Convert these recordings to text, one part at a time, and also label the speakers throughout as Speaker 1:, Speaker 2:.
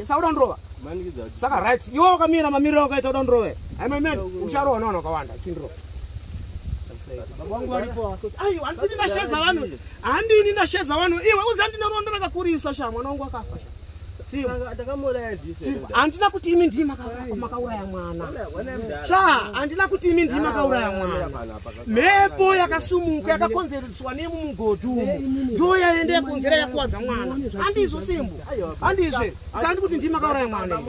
Speaker 1: sauda ndrova saka right iwe wakamira mamiriro ukaita uda ndrove aimamen ucharowa navanhu wakawanda chindrova handisini ndashedza vanhu handini ndashedza vanhu iwe uzi handina rondo rakakurisa sha mwana wangu akafa handina kuti imi ndii makauraya mwana sha handina kuti imi ndii makauraya mwana mhepo yakasumuka yakakonzereswa nemumugodhi umu ndoyaende yakonzera yakuwadza mwana handizvo simbo handizve sandi kuti ndima kauraya mwana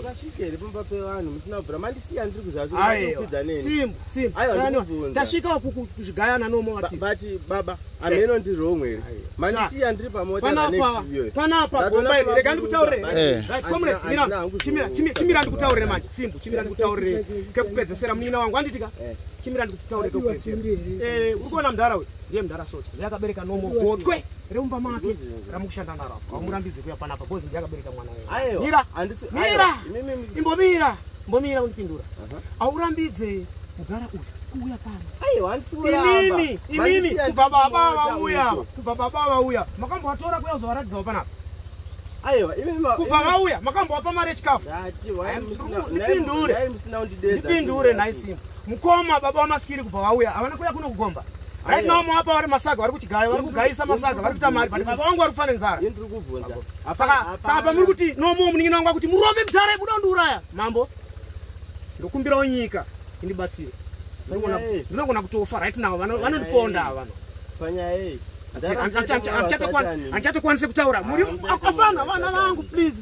Speaker 1: tasvikawo kuzvigayana nomoatisbaba
Speaker 2: ameno ndiri wrong here mandisiya ndiri pamotapanapa gombai
Speaker 1: rega ndikutaurire eh. comrade chimira chimira ndikutaurire manje simbu chimira ndikutaurire kekupedzesera munin'ina wangu anditika eh. chimira ndikutaurire kekupedzesera eh, uri kuona mudhara uyu ndiye mudhara socha ndiye akabereka nomogotwe remumba make ramukushanda naro apa hamurambidze kuya panapa bcoz ndiye akabereka mwana wemira mira imbomira mbomira undipindura haurambidze mudhara uyu kuuya panoinini
Speaker 2: inini kubva
Speaker 1: baba vauya ava kubva baba vauya makambovatora kuya uzovaratidzawo panapa
Speaker 2: kubva vauya
Speaker 1: makambovapa mari yechikafu ndipindure ndipindure nhaisimba mukoma baba wamasikiri kubva vauya havana kuya kunokugomba Right now mwapa vari masaga vari kuchigaya vari kugayisa masaga vari kuita mari but baba wangu vari kufana nzara. Yini tiri kubvunza. Saka saka pamuri kuti no more munin'ina wangu kuti murove mudhara ibuda undiuraya. Mambo. Ndokumbirawo nyika indibatsire. Ndinogona kutofa right now vanondiponda ava vano. Panya
Speaker 2: hey.
Speaker 1: Andichatekwanise kutaura. Muri akafana vana vangu please.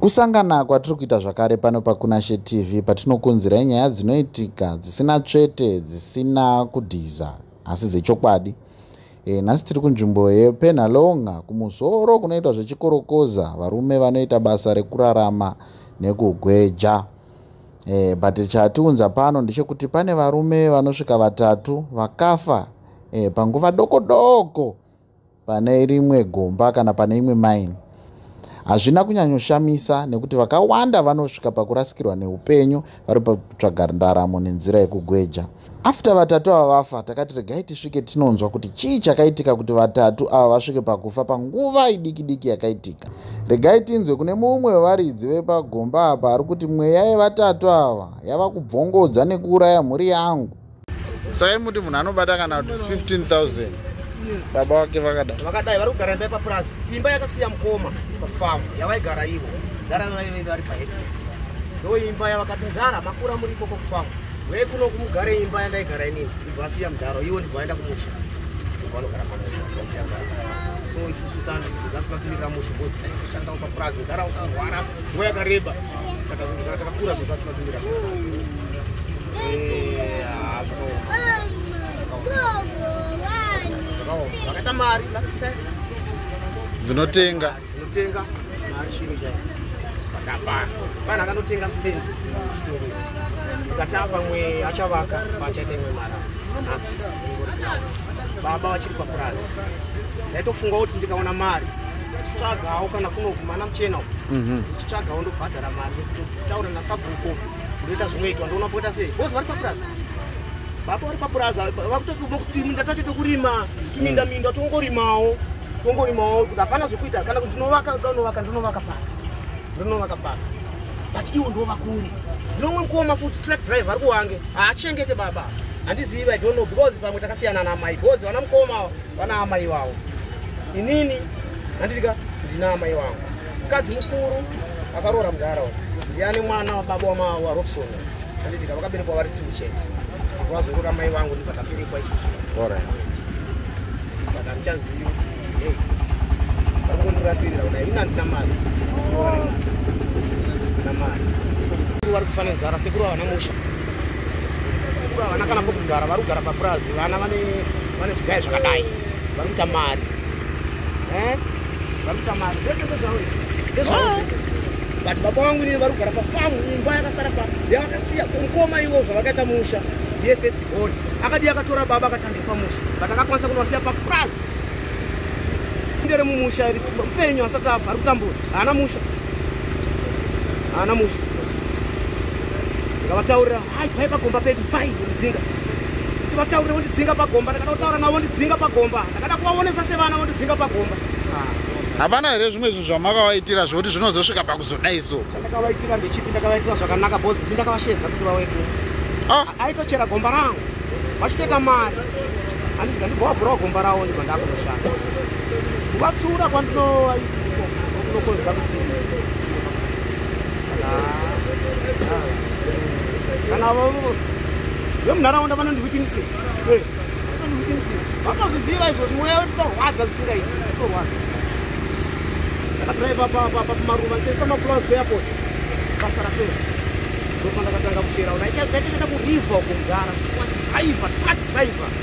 Speaker 3: kusangana
Speaker 4: kwatiri kuita zvakare pano pakunashe tv patinokunzirai nyaya dzinoitika dzisina tsvete dzisina kudhiza asi dzechokwadi e, nhasi tiri kunzvimbo yepenhalonga kumusoro kunoitwa zvechikorokoza varume vanoita basa rekurarama nekugweja e, but chatiunza pano ndechekuti pane varume vanosvika vatatu vakafa e, panguva doko doko pane rimwe gomba kana pane imwe maini hazvina kunyanyoshamisa nekuti vakawanda vanosvika pakurasikirwa neupenyu vari pakutsvaga ndaramo nenzira yekugweja after vatatu ava vafa takati regai tisvike tinonzwa kuti chii chakaitika kuti vatatu ava vasvike pakufa panguva idiki diki yakaitika regai tinzwe kune mumwe wevaridzi vepagomba apa ari kuti mweya yevatatu ava yava kubvongodza nekuuraya mhuri yangu sai muti munhu anobata kana kuti 15000 baba wake vakadai vakadai vari kugara imba
Speaker 1: yepapurazi imba yakasiya mukoma pafamu yavaigara ivo gara vaive vari pahead ndo imba yavakati mdara makura muri ikoko kufamu ve kuno kumugare imba yandaigara inini ndibva asiya mdaro ivo ndibva vaenda kumusha ndibva vanogara pamusha vasiya mdaro so isusu tandasina kumirira musha bcause taishandawo papurazi mdara wakarwara nguva yakareba saka zvinhu zvakatakakura zvozvasi
Speaker 4: dzinotenga dzinotenga
Speaker 1: mari chiro chaiyo patapana fana akanotenga stand zvitoro izvi ukati apamwe achavaka paachaita imwe mara nhasi baba vachiri papurazi ndaitofunga kuti ndikaona mari tsvagawo kana kunogumana muchena uku mhm. tsvagawo ndobhadhara mari taura nasabhuko ndoita zvinoitwa ndoona poita sei bos vari papurazi baba vari papurazi vakutokutinda tacho tokurima tuminda mm. minda tongorimawo tongorimawo kuti hapana zvekuita kana kuti ndinovaka donovaka ndinovaka paka ndinovaka paka but iwo ndovakuri ndinomwe mukoma futi truck drive ari kuwange haachengete baba handizivi i don't know because pamwe takasiyana naamai because vana mukoma vana amai vavo inini handitika ndina amai vangu mukadzi mukuru akaroora mudhara uyu ndiani mwana wababa wamarobson anditika vakaberekwa vari two chete vazorora mai vangu ndibva taberekwa isusu saka handichazivi kuti hey vari kundirasirira kuda ini handina mari na mari vari kufana nzara sekuru havana musha sekuru havana kana pokugara vari kugara papurazi vana vane zvigaya zvakadai vari kuita mari Eh? Vamisa mari. Zvese ndezvawo. Ndezvawo oh. zvese. But baba wangu ndiye vari kugara pafamu imba yakasara pa yavakasiya kumukoma ivo zvavakaita musha ndiye first born akadi akatora baba akatangira pamusha but akakwanisa kunovasiya papraz ndere mumusha iri mupenyu asati abva ari kutambura haana musha haana musha ngavataurira Hai pai pagomba pedu pai ndidzinga. Tivataurire vondidzinga pagomba ndakada kutaura navo vondidzinga pagomba. Ndakada kuvaonesa sevana vondidzinga pagomba. Hapana
Speaker 4: here zvimwe zvinhu zvamakavaitira zvekuti zvinozosvika pakuzodai so? Ndakavaitira ndechipi
Speaker 1: ndakavaitira zvakanaka boss ndi ndakavashedza kuti vauye kuno. Ah. Aitochera gomba rangu. Vachitoita mari. Handidzi ndandigovavhurawo gomba ravo ndibva ndakunoshanda. Kuvatsiura kwandinovaitira. Kunokonzwa kuti kana vemunharaunda vanondiwitinise eh, vanozviziva izvo zvimweya vetotorwadza zvisingaiti torwadza ndakadriva pamaruva ndichaisa maflowers kuairport basa rapera ndopandakatanga kuchera unaitaitaita kurivha uko mudhara driver truck driver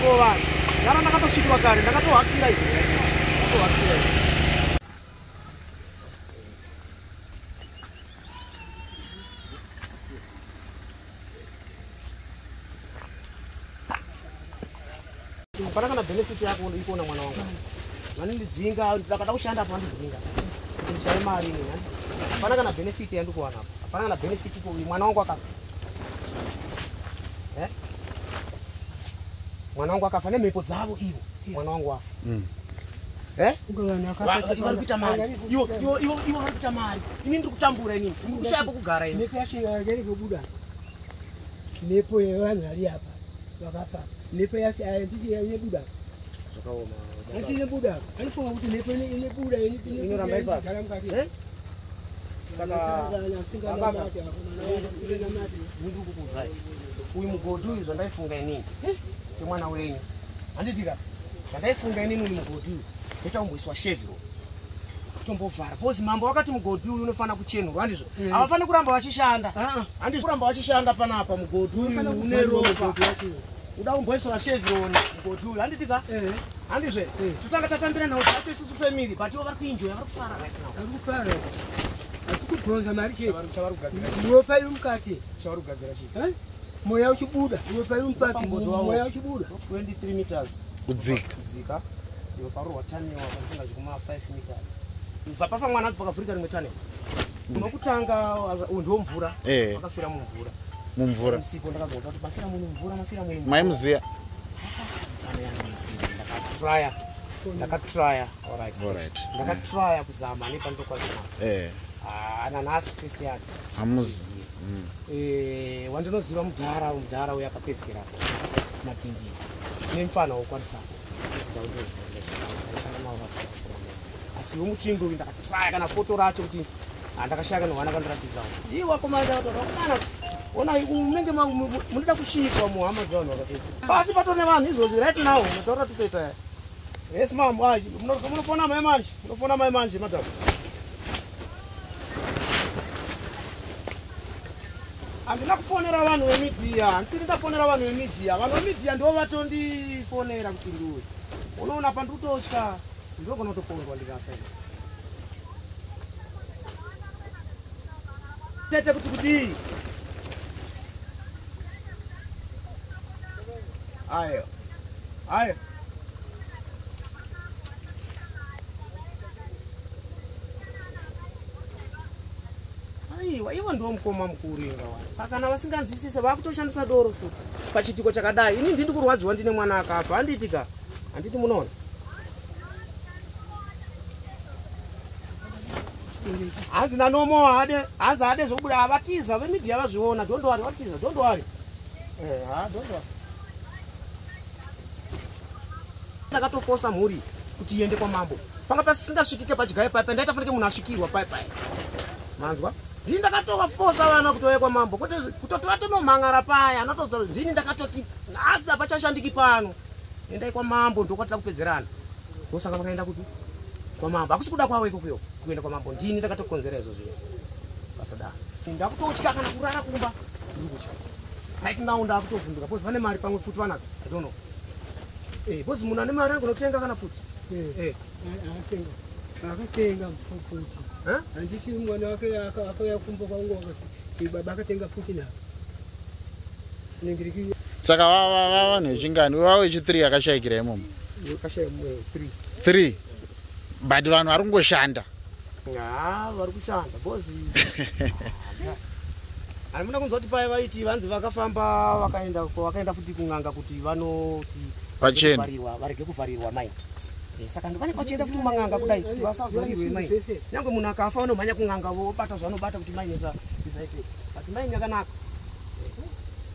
Speaker 4: Kurovana.
Speaker 1: Yara ndakatosvikirwa kare, ndakatohakira izvo. Ndakatohakira izvo. Hapana kana benefit yako ikuona mwana wangu. Vanondidzinga, ndakada kushanda apa vandidzinga. Ndishaye mari ini. Hapana kana benefit yandikuwana apa. Hapana kana benefit iko mwana wangu akafa. Eh? mwana wangu akafa nemhepo dzavo ivo mwana wangu wafa mm. eh? vari kuita mari ivo vari kuita mari ini ndiri kutambura inini ndiri kushaya pokugara ini
Speaker 5: mhepo yevanhu vari apa vakafa mhepo yacho handisi yanyebuda zvakaoma
Speaker 1: asi inebuda
Speaker 5: anofunga kuti mhepo inebuda inoramba
Speaker 1: ipasi uyu mugoti uyu zvandaifunga inini semwana wenyu handitika zvandaifunga inini uyu mugoti uyu ndotaumboiswa sheviro tombovhara bcause mambo vakati mugodhi uyu unofanira kuchenurwa handizvo mm. havafaniri kuramba vachishanda ah, ah. handizvo kuramba vachishanda panapa mugodhi uyu une ropa uda kumboisora chevron mugoti uyu handiti ka eh. handizve eh. totanga tafambira nhau tacho isusu family but ivo vari kuinjoya vari kufara right now vari kufara
Speaker 5: hatikubhonza mari chechavari kugadzira
Speaker 1: iwe pai mukati
Speaker 5: chavari kugadzira chi eh?
Speaker 1: mweya uchibuda
Speaker 5: iwe pai mukati mweya uchibuda 23 meters
Speaker 1: kudzika kudzika
Speaker 4: iwe parohwa
Speaker 1: taniwa panofunga zvekuma 5 meters bva pafa mwana azi pakavhurika rimwe taniwa unokutanga uyu ndiwo mvura eh. wakafira mumvura mumvura msipo ndakazonzwa kuti mafira muni mvura mafira muni maimuziya
Speaker 4: ndakatraya
Speaker 1: ndakatraya orit ndakatraya kuzama nepandokwazima eh. ah, nanhasi fesi yake hamuzi mm.
Speaker 4: eh,
Speaker 1: wandinoziva mudhara mudhara uyo akapedzisira matindii nemfana wokwarisako isidzaundoziva nezvaa aishanda navo vakakona asi vomutsvingo uyu ndakatraya kana foto racho kuti handakashaya kana hwana kandiratidzawo ii wakomaaaana ona menge munoda kusvikwa muhama dzevanhu vakapeta pasi pato nevanhu izvozvi right now mataura titoita yes mam munofona mai manje munofona mai manje madam handina kufonera vanhu vemidia handisiri ndafonera vanhu vemidia vanhu vemidia ndivo vatondifonera kuti ndiwe unoona pandiri kutotya Ndogona kutopondwa ndikafa. Tete kuti kudii? Ayo. Ayo. aiwa ivo ndiwo mukoma mukuru inga wa saka na vasinganzwisise vakutoshandisa doro futi pachitiko chakadai ini ndini kurwadziwa ndine mwana akafa handiitika handiti munoona hanzi nanomo haade hanzi haade zvokubuda havatiza vemidia vazviona don't worry vatiza don't worry eh, ha don't worry ndakatofosa mhuri kuti iende kwamambo panga pasisingasvikike padyaye paye pandaita fanike munhu asvikirwa paye paye manzwa ndini ndakatovafosa vana kuti vauye kwamambo kuti kutotora tonomhan'ara paye anotoziva ndini ndakatoti nhasi hapachashandiki pano endai kwamambo ndokwatida kupedzerana ndosaka vakaenda kuti kwamambo hakusi kuda kwavo ikokuyo kuenda kwamambo ndini ndakatokonzera izvo zvinhu pasadaro ndakutotya kana kurara kumba ndiri kutya right now ndakutovhunduka bcause vane mari pamwe futi vanadzo i don't know eh, bcause munhu ane mari angonotenga kana futi eh, eh.
Speaker 5: akatenga futi handiti mwana wake akauya kumba kwangu akati baba akatenga futi navo saka vava
Speaker 4: vanhu vechingani vava wechi3 akashayikira imomo 3 but vanhu vari kungoshanda
Speaker 1: vari kushanda bcoz handimuna kunzwa kuti paye vaiti vanzi vakafamba vakaenda vakaenda futi kun'anga kuti vanoti vachena varege kuvharirwa mai eh, saka ndovane vachienda futi kuman'anga kudai kuti vasavharirwe mai nyange munhu akafa vanomhanya kun'anga vobata zvavanobata kuti mainesa isaite but mai nyakanaka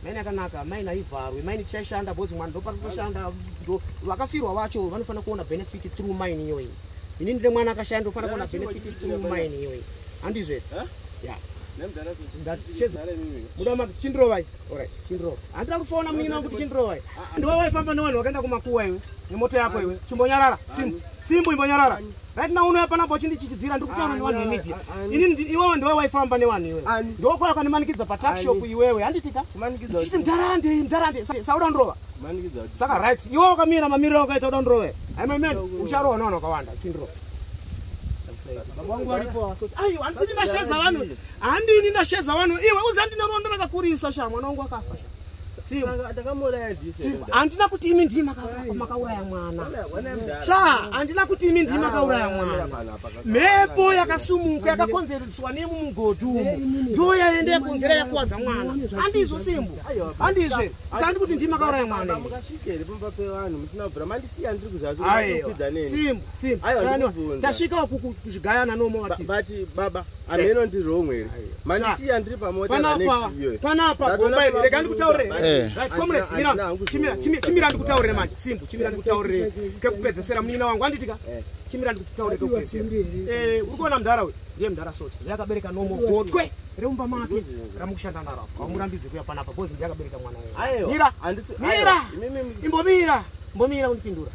Speaker 1: maini akanaka maini haivharwi maini tichashanda bhozi mwana ndo parikutoshanda ndo vakafirwa vacho vanofanira kuona benefit through maini iyoyi ini ndine mwana akashaya ndofanira kuona benefit through maini iyoyi handizve eh? ya chindirovai orit chindirova handira kufona munyina wangu kuti chindirovai ah, ah. ndiwe waifamba nevanhu vakaenda kumakuwa iwe nemoto yako iwe chimbonyarara simbu imbonyarara Right now unoya panapa uchindichichidzira ndiri kutaura ah, nevanhu vemedia. Ah, ah, Inini iwewe ndiwe waifamba nevanhu iwewe. Ndokwaya kwandimanikidza patalk shop iwewe handitika? Ndichiti mdarande mdarande sauda ndrova. Saka right iwewe wakamira mamiriro wakaita uda ndrove. Hai my man ucharohwa nevanhu wakawanda kindro. Baba wangu waripo asoti. Ayo handisini ndashedza vanhu. Handini ndashedza vanhu iwe uzandine rondo rakakurisa sha mwana wangu akafa sha. handina kuti imi ndii makauraya mwana cha handina kuti imi ndii makauraya mwana mhepo yakasumuka yakakonzereswa nemumugodhi umo ndo yaenda yakonzera yakuwadza mwana handizvo simbu handizve sandi kuti ndii makauraya mwana simbu simbu tasvika kuzvigayana nomo vatisi
Speaker 2: ameno ndi wrong here mani siya ndiri pamota na next year panapa
Speaker 1: gomba iri rega ndikutaurire eh. right comrade mira chimira chimira ndikutaurire manje simbu chimira ndikutaurire kekupedzesera munina wangu anditika eh. chimira ndikutaurire kekupedzesera eh uri kuona mdara uyu ndiye mdara socha ndiye akabereka nomo gotwe reumba make ramukushanda naro apo amurambidze kuya panapa because ndiye akabereka mwana wewe mira mira imbomira mbomira undipindura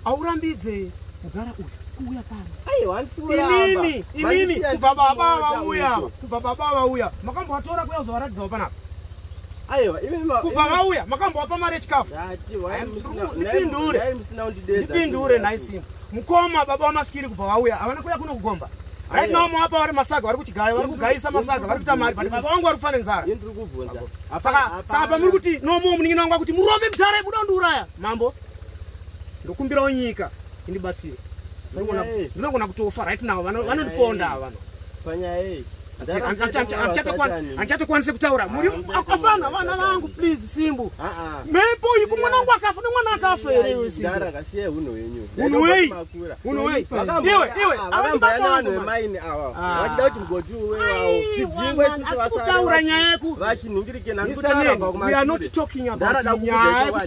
Speaker 1: aurambidze mdara uyu kuuya pano aiwa handisi kuramba inini inini kubva baba vauya ava kubva baba vauya makambovatora kuya kuzovaratidzawo panapa aiwa kubva vauya makambovapa mari yechikafu ndipindure ndipindure nhai simba mukoma baba wamasikiri kubva vauya havana kuya kuno kugomba right now mawapa vari masaga vari kuchigaya vari kugayisa masaga vari kuita mari but baba vangu vari kufana nzara saka pamuri kuti nomo munin'ina wangu akuti murove mudhara yekuda kundiuraya mambo ndokumbirawo nyika indibatsire ndinogona kutofa right now vanondiponda ava vano panyaya iyi anichatokwanise kutaura ah, muri akafana vana vangu please simbu ah, ah. mepo iyi kumwana wangu akafa nemwana akafa here iwe simbuiweaakutaura nyaya yekuti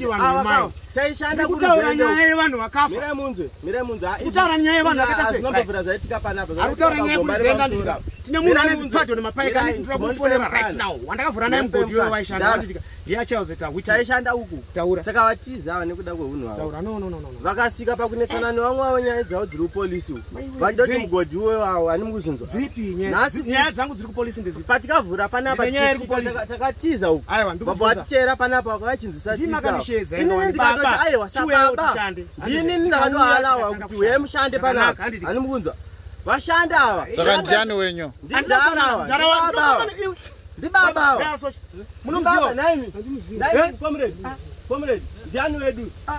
Speaker 1: vanhu vemaini taishanda kutaura nyaya yevanhu vakafa mirai munzwe mirai munzwe kutaura nyaya yevanhu vakaita sei zvinobvira zvaitika panapa ari kutaura nyaya yekuzienda ndira tine munhu ane zipado nemapaika ane kutura kumufonera right now wandakavhura naye mugodhi wewe waishanda watitika ndiye achazoita wit taishanda uku
Speaker 2: taura takavatiza
Speaker 1: ava nekuda
Speaker 2: kweunhu hwavo taura no no no no vakasvika
Speaker 1: pakunetsana
Speaker 2: nevamwe vavo nyaya dzavo dziri upolisi uku vandoti mugodhi uyo awo hani mukuzinzwa dzipi nyaya
Speaker 1: dzangu dziri kupolisi ndedzipi patikavhura panapa nyaya
Speaker 2: iri kupolisi takatiza uku aiwa baba vatichera panapa vakachinzwisa tizaininiakanishedza aiwa sababa ndini ndinohalawa kuti uye mushande panapa hani mukunzwa vashandi ava takandiani wenyu
Speaker 4: ndidarawa
Speaker 2: ndibabawa munomuziwa ndiani wedu ah.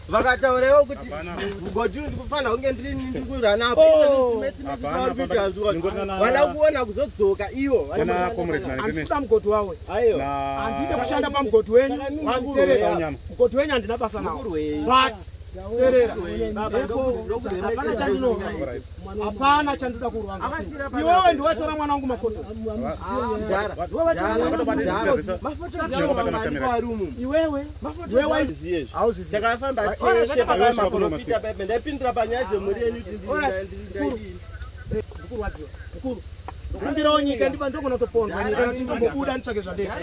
Speaker 2: vakataurawo kuti mugoti uyu ndikufanira kunge ndirikuranapo vada kuona kuzodzoka ivo andisida
Speaker 1: mugoti wawe handide kushanda pamugoti wenyu wakuterera mugoti wenyu handina basa nawo but terera hapana chandinoa hapana chandinoda kurwanza iwewe ndiwetora mwana wangu mafotoiwewe takafamba tese
Speaker 2: pamaprofita paipe ndaipindura panyaya dzemhuri yenyu
Speaker 1: kumbirawo nyika ndiba ndogona kutopondwa nyika noti ndimbobuda
Speaker 2: nditsvake zvandeita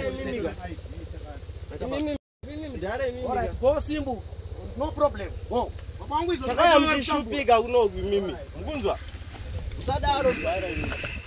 Speaker 2: simbu
Speaker 1: no problem takayamukishupika
Speaker 2: kunoku imimi mukunzwa musadaro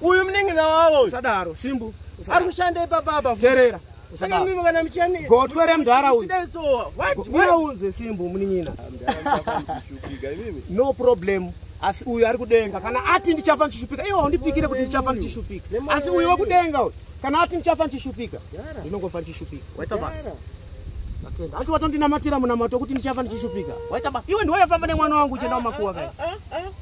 Speaker 2: uyu munin'ina wavo usadaro simbu
Speaker 1: ari kushanda
Speaker 2: ipapa apa terera saka
Speaker 1: mimi kana
Speaker 2: muchani gotwe remdhara uyu unzwe simbu munin'ina
Speaker 1: no problem asi uyu ari kudenga kana ati ndichafa ndichishupika iwo haundipikire kuti ndichafa ndichishupika asi uyu wekudenga uyu kana ati ndichafa ndichishupika ndinongofa ndichishupika waita basa atenda ati watondinamatira munamato wekuti ndichafa ndichishupika waita basa iwe ndiwayafamba nemwana wangu uchienda kumakuwa kai ah, ah, ah,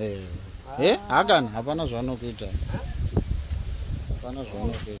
Speaker 4: eh, eh, hakana hapana zvanokuita hapana zvanokuita